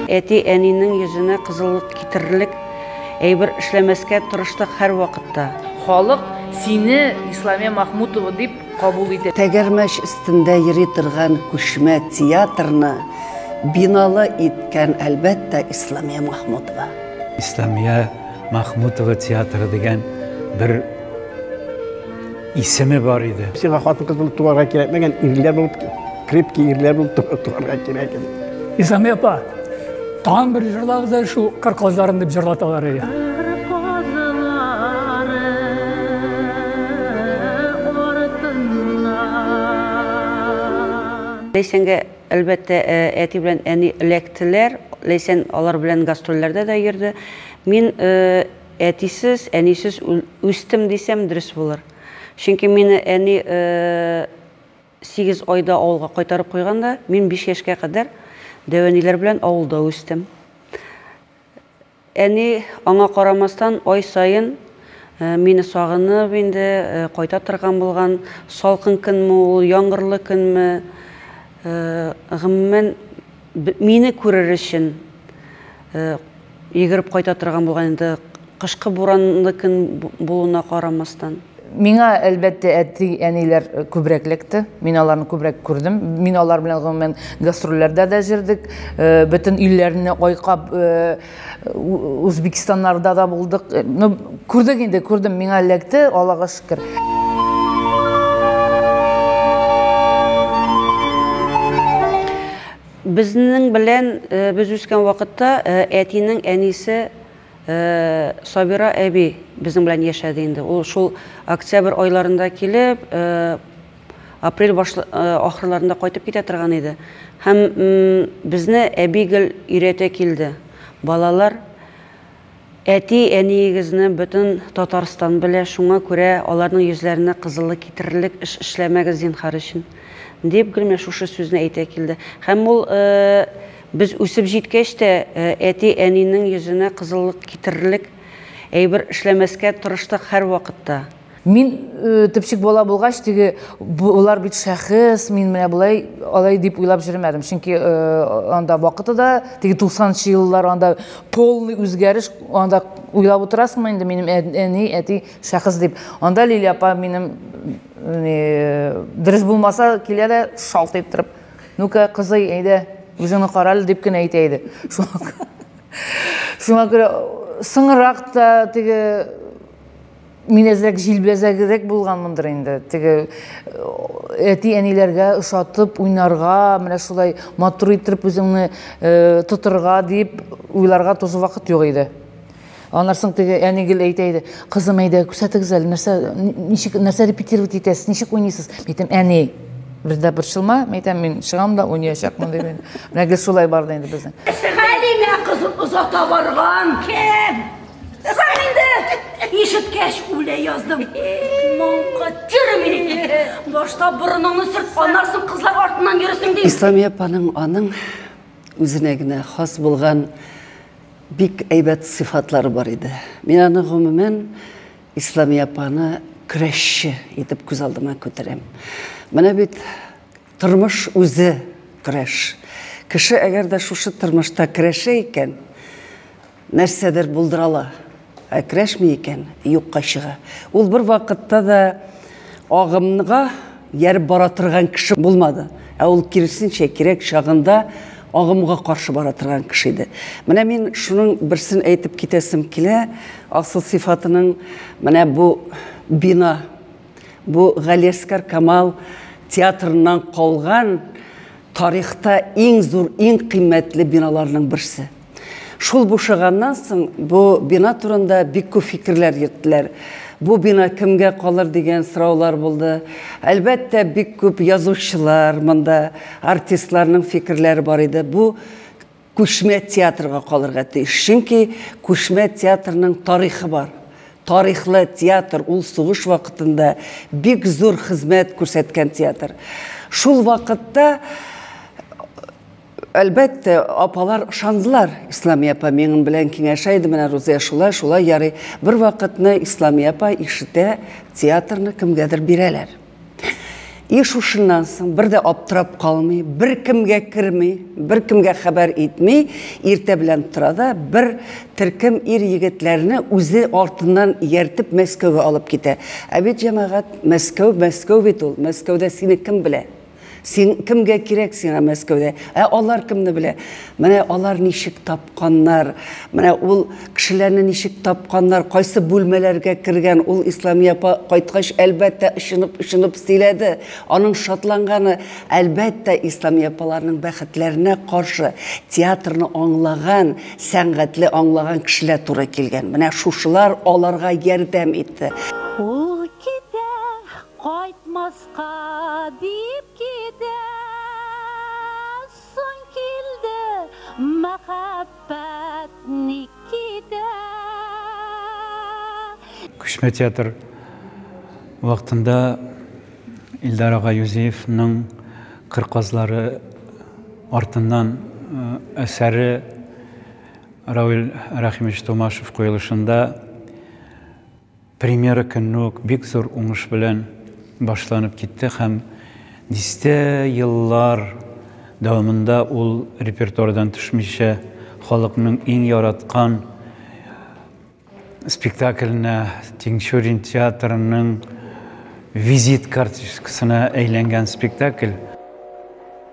Әти-әнинең йөзенә кызыллык китерерлек әйбер эшләмәскә тырыштык һәрвакытта. Халык сине Исламия Махмутова дип кабул итә. Тәгәрмәч өстендә йөри торган күчмә театрны биналы иткән, әлбәттә, Исламия Махмутова. Исламия Махмутова театры дигән бер исеме бар иде. Сиңа хатын-кыз булып туарга кирәкмәгән, ирләр булып, крепки ирләр булып туарга кирәк иде. Исами апа, тагын бер җырлагыз әле шул кыр кызларын дип җырлаталар иде. Ләйсәнгә Әлбәттә, әти белән әни эләктеләр. Ләйсән алар белән гастрольләрдә дә йөрде. Мин әтисез, әнисез үстем дисәм, дөрес булыр. Чөнки мине әни сигез айда авылга кайтарып куйган да, мин биш яшькә кадәр дәү әниләр белән авылда үстем. Әни, аңа карамастан, ай саен мине сагынып инде кайта торган булган. Салкын көнме ул, яңгырлы көнме, гомумән, мине күрер өчен йөгереп кайта торган булган инде, кышкы буранлы көн булуына карамастан. Миңа, әлбәттә, әти-әниләр күбрәк эләкте. Мин аларны күбрәк күрдем. Мин алар белән гомумән гастрольләрдә дә җөрдек. Э, бөтен илләрне айкап, э, Узбекистаннарда да булдык. Э, ну, күрдек инде, күрдем. Миңа эләкте, Аллага шөкер. Безнең белән без үскән вакытта әтинең әнисе Сабира әби безнең белән яшәде инде. Ул шул октябрь айларында килеп, апрель баш ахырларында кайтып китә торган иде. Һәм безне әби гел өйрәтә килде. Балалар, әти, әниегезне бөтен Татарстан белә, шуңа күрә аларның йөзләренә кызыллык китерерлек эш эшләмәгез, зинһар өчен, дип гел менә шушы сүзне әйтә килде. Һәм ул Без үсеп җиткәч тә, әти-әнинең йөзенә кызыллык китерерлек әйбер эшләмәскә тырыштык һәрвакытта. Мин төпчек бала булгач, теге, болар бит шәхес, мин менә болай, алай дип уйлап йөремәдем. Чөнки анда вакыты да, теге туксанынчы еллар, анда полный үзгәреш, анда уйлап утырасыңмы инде, минем әни, әти, шәхес дип. Анда Лилия апа минем, дөрес булмаса, килә дә шалт иттереп. Нука, кызый, әйдә, үзеңне кара әле дип кенә әйтә иде. Шуңа күрә соңрак та теге мин әзрәк җилбәзәгрәк булганмындыр инде теге э, әти әниләргә ошатып уйнарга менә шулай матур иттереп үзеңне э, тотырга дип уйларга тоже вакыт юк иде Аннан соң теге әни гел әйтә иде, кызым, әйдә, күрсәтегез әле, нәрсә, ничек, нәрсә репетировать итәсез, ничек уйныйсыз? Әйтәм, әни, бездә борчылма, әйтәм, мин чыгам да уйнаячакмын, дип инде. Менә гел шулай барды инде безнең. Хәлимә кызын озата барган кем? Син инде ишеткәч үлә яздым. Моңка термин. Башта борыныңны сөрт, аннан соң кызлар артыннан йөресең ди. Исламия апаның аның Үзенә генә хас булган бик әйбәт сыйфатлары бар иде. Мин аны, гомумән, Исламия апаны көрәшче итеп күз алдыма күтәрәм. Менә бит тормыш үзе көрәш. Кеше әгәр дә шушы тормышта көрәшә икән, Нәрсәдер булдырала. Әкрәшме икән, юкка чыга. Ул бер вакытта да агымга ярып бара торган кеше булмады. Ә ул киресенчә кирәк чагында агымга каршы бара торган кеше иде. Менә мин шуның берсен әйтеп китәсем килә. Асыл сыйфатының менә бу бина, бу Галиәскар Камал театрыннан калган тарихта иң зур, иң кыйммәтле биналарның берсе. Шул бушаганнан соң бу бина турында бик күп фикерләр йөрттеләр. Бу бина кемгә калыр дигән сораулар булды. Әлбәттә, бик күп язучылар монда, артистларның фикерләре бар иде. Бу күчмә театрга калырга тиеш. Чөнки күчмә театрның тарихы бар. Тарихлы театр, ул сугыш вакытында бик зур хезмәт күрсәткән театр. Шул вакытта Әлбәттә, апалар ышандылар. Исламия апа минем белән киңәшә иде, менә Рузия шулай, шулай ярый. Бер вакытны Исламия апа ишетә, театрны кемгәдер бирәләр. И шушыннан соң бер дә аптырап калмый, бер кемгә керми, бер кемгә хәбәр итми, иртә белән тора да бер төркем ир-егетләрне үзе артыннан ияртеп Мәскәүгә алып китә. Ә бит, җәмәгать, Мәскәү, Мәскәү бит ул, Мәскәүдә сине кем белә? Син кемгә кирәк сиңа Мәскәүдә? Ә алар кемне белә? Менә алар ничек тапканнар, менә ул кешеләрне ничек тапканнар, кайсы бүлмәләргә кергән, ул Ислами апа кайткач, әлбәттә, очынып-очынып сөйләде. Аның шатланганы, әлбәттә, Ислами апаларның бәхетләренә каршы театрны аңлаган, сәнгатьле аңлаган кешеләр туры килгән. Менә шушылар аларга ярдәм итте. Ул китә, кайтмас Кадип китә, соң килде мәхәббәт ник китә. Күчмә театр вакытында Илдар ага Юзеевның Кыр казлары артыннан әсәре Равил Рәхимович Томашев куелышында Премьера көнне үк бик зур уңыш белән башланып китте һәм дистә еллар дәвамында ул репертуардан төшмичә халыкның иң яраткан спектакленә, Тинчурин театрының визит карточкасына әйләнгән спектакль.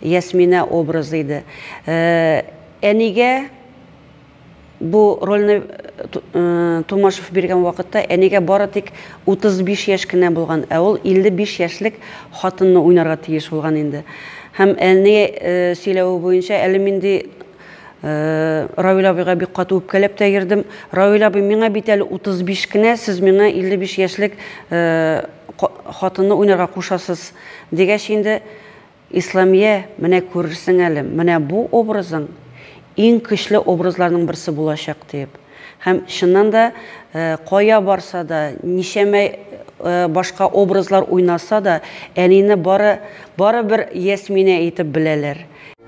Ясминә образы иде. Әнигә бу рольне Тумашев биргән вакытта әнигә бары тик 35 яшь кенә булган, ә ул 55 яшьлек хатынны уйнарга тиеш булган инде. Һәм әни сөйләве буенча, әле мин ди Равил абыйга бик каты үпкәләп тә йөрдем. Равил абый, миңа бит әле 35 кенә, сез миңа 55 яшьлек хатынны уйнарга кушасыз, дигәч инде, Исламия, менә күрерсең әле, менә бу образың иң көчле образларның берсе булачак, диеп. Һәм, чыннан да, кая барса да, ничәмә башка образлар уйнаса да, әнине бары, бары бер Ясминә итеп беләләр.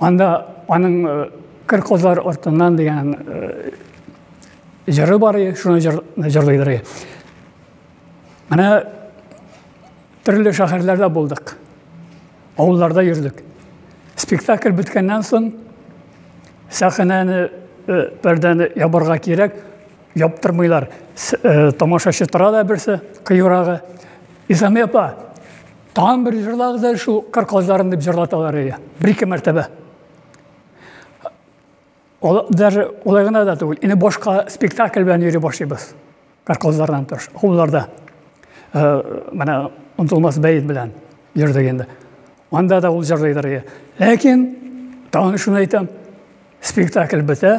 Анда аның э, кыр козлар ортыннан дигән э, җыры бар, шуны җырлыйдыр. Менә төрле шәһәрләрдә булдык. Авылларда йөрдек. Спектакль беткәннән соң сәхнәне э, бердән ябарга кирәк, яптырмыйлар. Тамашачы тора да берсе, кыюрагы. Исәме апа, Тагын бер җырлагыз әле шул кыр казларын дип җырлаталар иде. Бер-ике мәртәбә. Ол, даже олай гына да түгел. Инде башка спектакль белән йөри башлыйбыз. Кыр казлардан тыш. Хулларда. Э, менә онтылмас бәет белән йөрдек инде. Анда да ул җырлыйдыр иде. Ләкин тагын шуны әйтәм, спектакль бетә.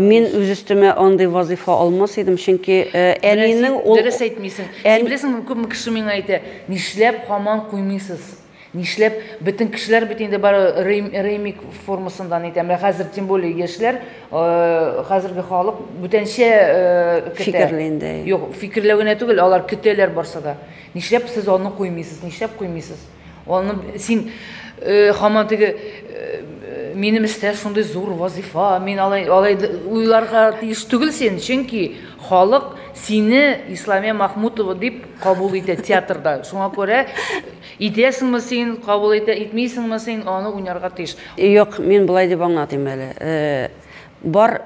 Мин үз өстемә андый вазыйфа алмас идем, чөнки әнинең ул Дөрес әйтмисең. Син беләсең мени, күпме кеше миңа әйтә, нишләп хаман куймыйсыз? Нишләп бөтен кешеләр бит инде бары ремик формасында нитә. Менә хәзер тем более яшьләр, хәзерге халык бүтәнчә фикерли инде. Юк, фикерләү генә түгел, алар көтәләр барса да. Нишләп сез аны куймыйсыз? Нишләп куймыйсыз? Аны син э, хаман теге э, минем эштә шундый зур вазифа, мин алай алай уйларга тиеш түгел син, чөнки халык сине Исламия Махмутова дип кабул итә театрда. Шуңа күрә итәсеңме син, кабул итә, итмисеңме син, аны уйнарга тиеш. Юк, мин болай дип аңлатыйм әле. Э, бар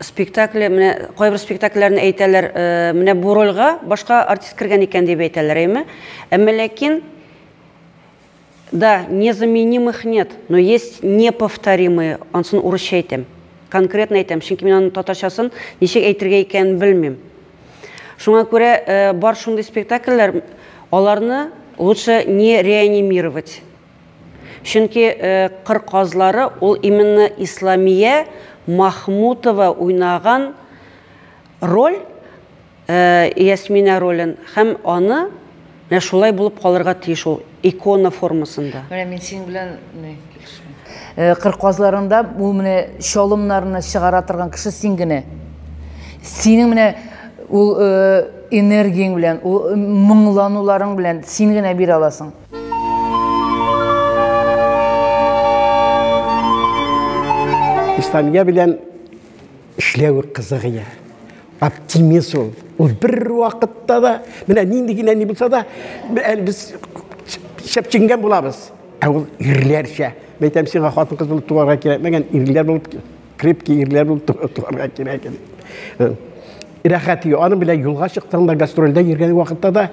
Спектакле, менә кайбер спектакльләрне әйтәләр, менә бу рольгә башка артист кергән икән дип әйтәләр, әйме? Әмма ләкин да незаменимых нет, но есть неповторимые, ансын урысча әйтәм. Конкретно әйтәм, чөнки мин аның татарчасын ничек әйтергә икәнен белмим. Шуңа күрә бар шундый спектакльләр, аларны лучше не реанимировать. Чөнки Кыр казлары ул именно Исламия Махмутова уйнаган роль, Ясминә ролен һәм аны менә шулай булып калырга тиеш ул, икона формасында. Менә мин синең белән килешмим. Кыр казларында ул менә чалымнарны чыгара торган кеше син генә. Синең менә ул энергияң белән, ул моңлануларың белән син генә бирә аласың. Исламия белән эшләү кызык ия. Оптимист ул. Ул бер вакытта да, менә нинди генә ни булса да, без шәпченгән булабыз. Ә ул ирләрчә. Мен әйтәм сиңа хатын кыз булып туарга кирәкмәгән, ирләр булып крепкий ирләр булып туарга кирәк иде. Э, рәхәт ю, аның белән юлга чыктың да гастрольдә йөргән вакытта да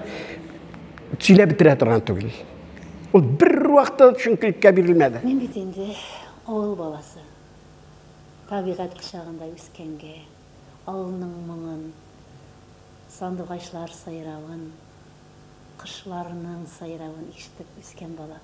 Сөйләп бетерә торган түгел. Ул бер вакытта төшенкелеккә бирелмәде. Мин бит инде авыл баласы. Табигать кочагында үскәнгә, авылның моңын, сандугачлар сайравын, кошларның сайравын ишетеп үскән бала.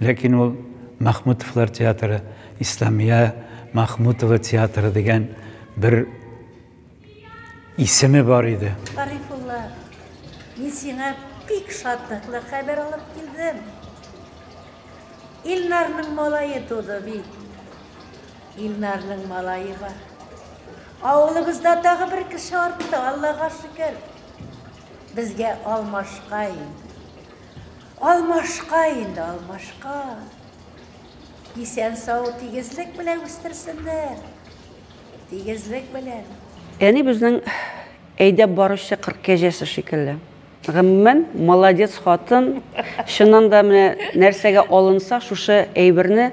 Ләкин ул Мәхмүтовлар театры, Исламия Мәхмүтова театры дигән бер исеме бар иде. Гарифулла, мин сиңа бик шатлыклы хәбәр алып килдем. Илнарның малае туды бит. Илнарның малае бар. Авылыбызда тагы бер кеше артты, Аллага шөкер. Безгә Алмашкай, Алмашка инде, алмашка. Исән-сау, тигезлек белән үстерсеннәр. Тигезлек белән. Әни безнең әйдәп баручы кыр кәҗәсе шикелле. Гомумән, молодец хатын. Чыннан да менә нәрсәгә алынса, шушы әйберне